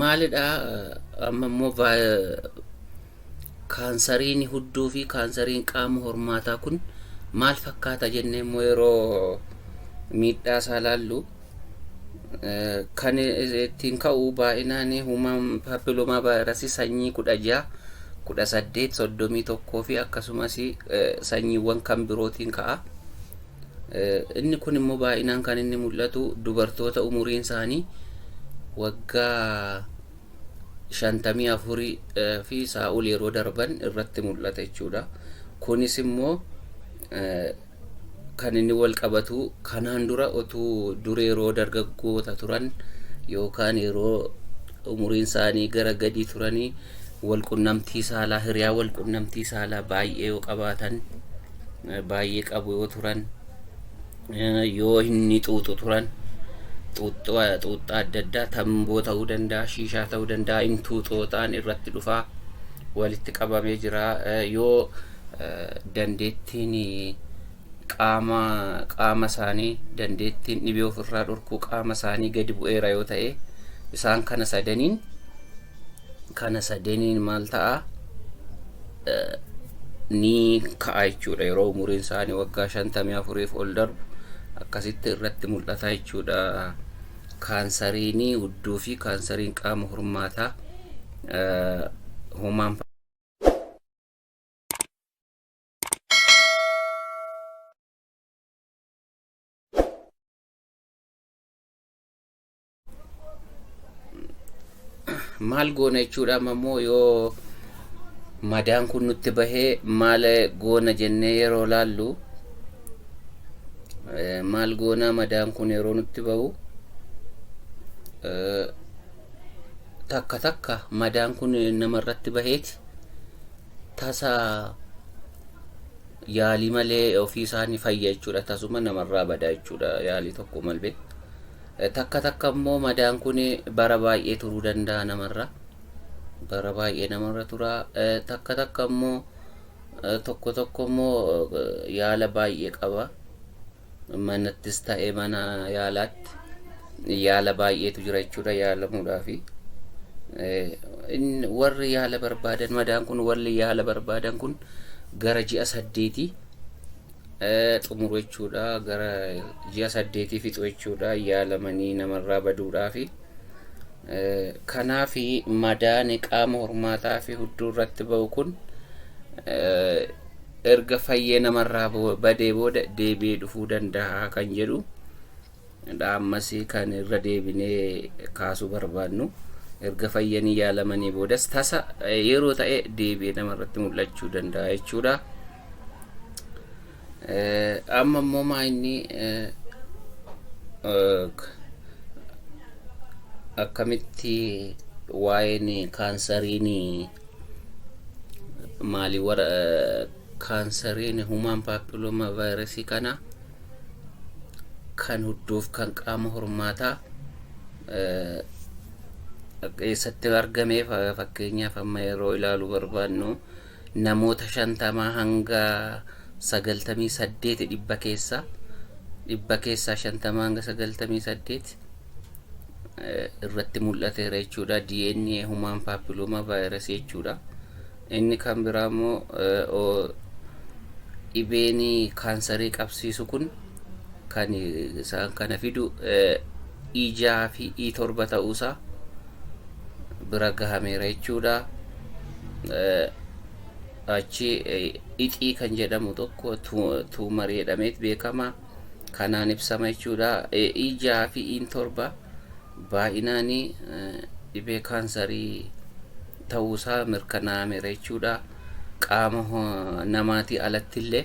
maalidhaa amma immoo kaansariin hudduu fi kaansariin qaama hormaataa kun maal fakkaata jennee immoo yeroo miidhaa isaa laallu kan ittiin ka'u baay'inaan human papilloma vaayirasii sanyii kudha ja'a kudha saddeet soddomii tokkoo fi akkasumas sanyiiwwan kan birootiin ka'a. Inni kun immoo baay'inaan kan inni mul'atu dubartoota umuriin isaanii waggaa shantamii afurii fi isaa ol yeroo darban irratti mul'ata jechuudha. Kunis immoo kan inni wal qabatu kanaan dura otuu dura yeroo dargaggoota turan yookaan yeroo umuriin isaanii gara gadii turanii wal qunnamtii saalaa hiriyaa wal qunnamtii saalaa baay'ee yoo qabaatan baay'ee qabu yoo turan yoo inni xuuxu turan xuuxxoo xuuxxaa adda addaa tamboo ta'uu danda'a shiishaa ta'uu danda'a intuu xooxaan irratti dhufaa walitti qabamee jira Eh, yoo eh, dandeettiin eh, qaama qaama isaanii dandeettiin dhibee ofirraa dhorkuu qaama isaanii gadi bu'eera yoo ta'e isaan kana sadaniin kana sadaniin maal ta'a ni ka'a jechuudha. Yeroo umuriin isaanii waggaa 54f ol darbu akkasitti irratti mul'ata jechuudha. Kaansariin udduu fi kaansariin qaama hormaataa homaan maal goona jechuudha amma immoo yoo madaan kun nutti bahee maal goona jennee yeroo laallu eh, maal goona madaan kun yeroo nutti bahu eh, takka takka madaan kun namarratti baheeti tasa yaalii malee ofii isaanii fayya jechuudha tasuma namarraa badaa jechuudha yaalii tokko malbee Takka takka immoo madaan kun bara baay'ee turuu danda'a namarra. Bara baay'ee namarra tura. Takka takka immoo tokko tokko immoo yaala baay'ee qaba. Manattis ta'ee mana yaalaatti yaala baay'eetu jira jechuudha yaalamuudhaafi. Warri yaala barbaadan madaan kun warri yaala barbaadan kun gara ji'a saddeetii xumuru jechuudha. Gara ji'a saddeetii fixu jechuudha. Yaalamanii namarraa baduudhaafi. Kanaaf madaani qaama hormaataa fi hudduu irratti ba'u kun erga fayyee namarraa badee booda deebi'ee dhufuu danda'a kan jedhu dha. Ammas kan irra deebinee kaasuu barbaadnu erga fayyanii yaalamanii boodas tasa yeroo ta'e deebi'ee nama irratti mul'achuu danda'a jechuudha. Amma immoo maa inni akkamitti waa'een kaansariin maalii wara kaansariin humaan paappilooma vaayirasii kana kan hudduuf kan qaama hormaataa eessatti argame fakkeenyaaf amma yeroo ilaalu barbaadnu namoota shantamaa hanga sagaltamii saddeeti dhibba keessaa dhibba keessaa shantamaa hanga sagaltamii saddeeti irratti mul'ateera jechuudha DNA humaan paappilooma vaayirasii jechuudha. Inni kan biraa immoo dhibeen kaansarii qabsiisu kun kan isaan kana fidu E6 fi E7 ta'uusaa bira gahameera jechuudha. Achi ixii kan jedhamu tokko tuumarii jedhameet beekama. Kanaan ibsama jechuudha. E6 fi E7 baayinaani dhibee kaansarii ta'uu isaa mirkanaa'ameera jechuudha. Qaama namaatii alattillee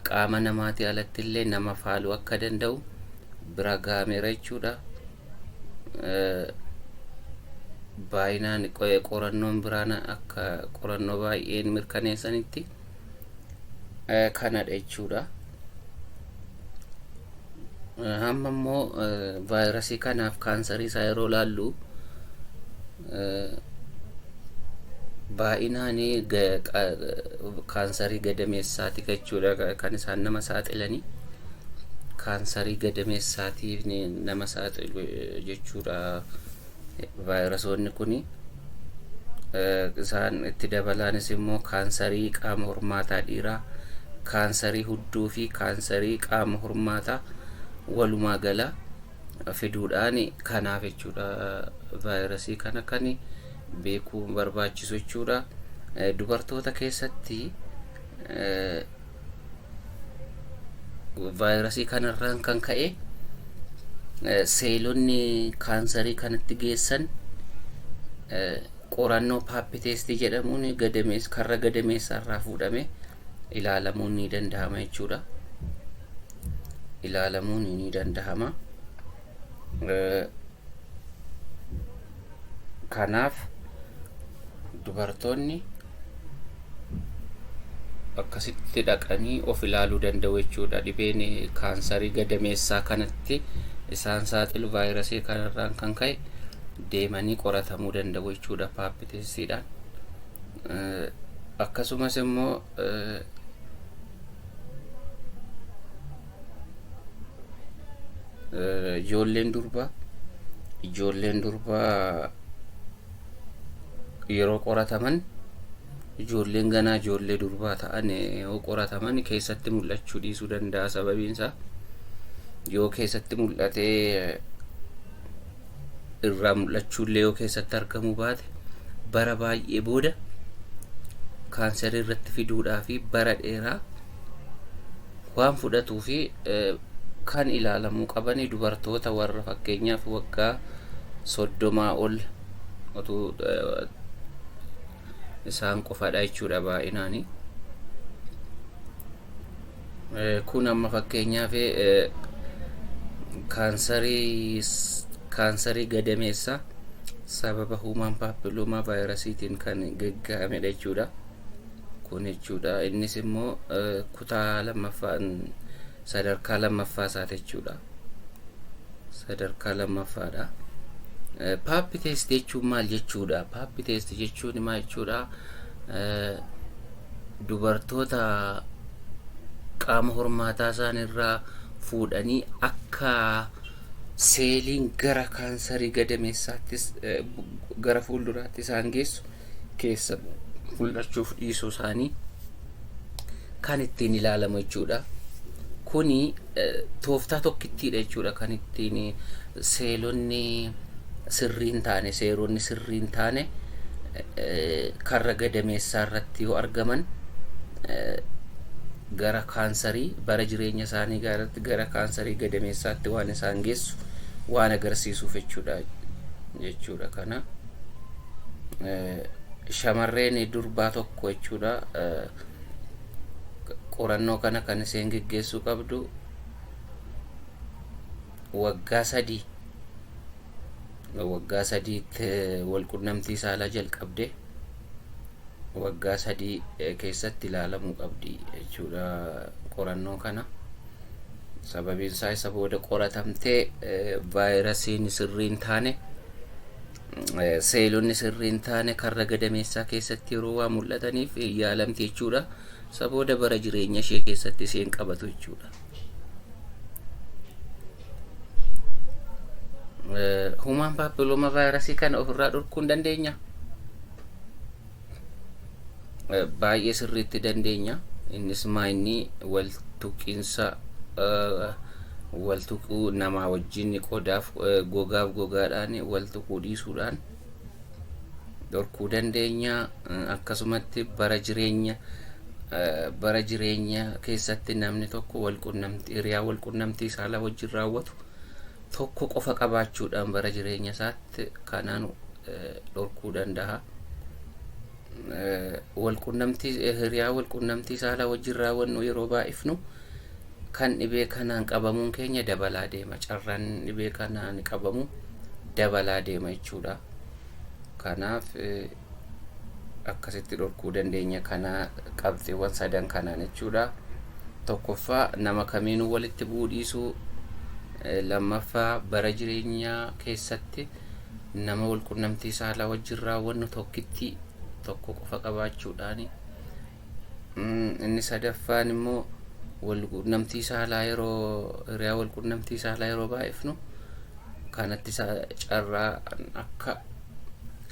qaama namaatii alattillee nama faaluu akka danda'u bira ga'ameera jechuudha. Baayinaan qorannoon biraan akka qorannoo baay'een mirkaneessanitti. eh, kanadha jechuudha. Eh, Hamma immoo eh, vaayirasii kanaaf kaansarii isaa yeroo laallu eh, baay'inaan ga- qa- kaansarii gadameessaati jechuudha ka- kan isaan nama saaxilanii kaansarii gadameessaatiin nama saaxilu eh, jechuudha Vaayirasoonni kun isaan itti dabalaanis immoo kaansarii qaama hormaataa dhiiraa, kaansarii hudduu fi kaansarii qaama hormaataa walumaa gala fiduudhaan kanaaf jechuudha vaayirasii kana kan beekuu barbaachisu jechuudha. Dubartoota keessatti vaayirasii kanarraan kan ka'e seelonni kaansarii kanatti geessan qorannoo paapiteestii jedhamuun gadamees karra gadameessaa irraa fuudhame ilaalamuun ni danda'ama jechuudha. Ilaalamuun ni danda'ama. kanaaf dubartoonni akkasitti dhaqanii of ilaaluu danda'u jechuudha dhibeen kaansarii gadameessaa kanatti isaan saaxilu vaayirasii kanarraan kan ka'e deemanii qoratamuu danda'u jechuudha paappiteessiidhaan akkasumas immoo Eh, Ijoolleen durbaa ijoolleen durbaa yeroo qorataman ijoolleen ganaa ijoollee durbaa ta'an eh, yoo qorataman keessatti mul'achuu dhiisuu danda'a sababiin isaa yoo keessatti mul'atee eh, irraa mul'achuullee yoo keessatti argamuu baate bara baay'ee booda kaansarii irratti fiduudhaa fi bara dheeraa waan fudhatuu fi eh, kan ilaalamuu qaban dubartoota warra fakkeenyaaf waggaa soddomaa ol otuu eh, isaan qofadha jechuudha baay'inaanii. Kun amma fakkeenyaaf kaansarii gadameessaa sababa huumaan paappiluumaa vaayirasiitiin kan gagga'amedha jechuudha. Kun jechuudha innis immoo kutaa lammaffaa sadarkaa lammaffaa isaati jechuudha. Sadarkaa lammaffaadha. Paappi teesti jechuun maal jechuudha? Paappi teesti jechuun maal jechuudha? dubartoota qaama hormaataa isaan irraa fuudhanii akka seeliin gara kaansarii gadameessaattis eh, bu- gara fuulduraatti isaan geessu keessa mul'achuuf dhiisuu isaanii kan ittiin ilaalamu jechuudha. Kuni eh, tooftaa tokkittiidha jechuudha kan ittiin eh, seelonni sirrii hin taane, seeronni sirrii hin taane karra gadameessaa irratti yoo argaman gara kaansarii bara jireenya isaanii gaaratti gara kaansarii gadameessaatti waan isaan geessu waan agarsiisuuf jechuudha jechuudha kana shamarreen durbaa tokko jechuudha qorannoo kana kan isheen geggeessuu qabdu waggaa sadii waggaa sadiitti wal qunnamtii saalaa jalqabde waggaa sadii keessatti ilaalamuu qabdi jechuudha qorannoo kana. Sababiin isaa isa booda qoratamtee vaayirasiin sirrii hin taane Seelonni sirrii hin taane karra gadameessaa keessatti yeroo waan mul'ataniif yaalamti jechuudha. Isa booda bara jireenya ishee keessatti isheen qabatu jechuudha. Human papilloma vaayirasii kana ofirraa dhorkuu hin dandeenya. baay'ee sirriitti dandeenya innis maa inni wal tuqiinsa wal tuquu namaa wajjin qodaaf gogaaf gogaadhaan wal tuquu dhiisuudhaan dhorkuu dandeenya akkasumatti bara jireenya bara jireenya keessatti namni tokko wal qunnamtii hiriyaa wal qunnamtii saalaa wajjin raawwatu tokko qofa qabaachuudhaan bara jireenya isaatti kanaan dhorkuu danda'a. Walqunnamtii hiriyaa walqunnamtii saalaa wajjin raawwannu yeroo baay'ifnu kan dhibee kanaan qabamuun keenya dabalaa deema. Carraan dhibee kanaan qabamu dabalaa deema jechuudha. Kanaaf akkasitti dhorkuu dandeenya kana qabxiiwwan sadan kanaan jechuudha. Tokkoffaa nama kamiinuu walitti bu'uu dhiisuu, eh, lammaffaa bara jireenyaa keessatti nama walqunnamtii saalaa wajjin raawwannu tokkitti tokko qofa qabaachuudhaani. Mm, Inni sadaffaan immoo walqunnamtii saalaa yeroo hiriyaa walqunnamtii saalaa yeroo baay'ifnu kanatti sa- carraa akka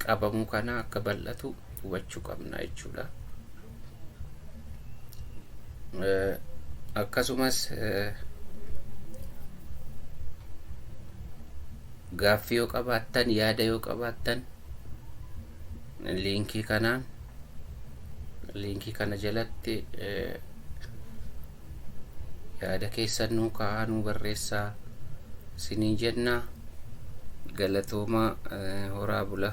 qabamuu kanaa akka bal'atu hubachuu qabna jechuudha. Akkasumas gaaffii yoo qabaattan yaada yoo qabaattan liinkii kanaan liinkii kana jalatti Yaada keessan nuu kaa'aa nuu barreessaa siniin jenna galatoomaa horaa bula.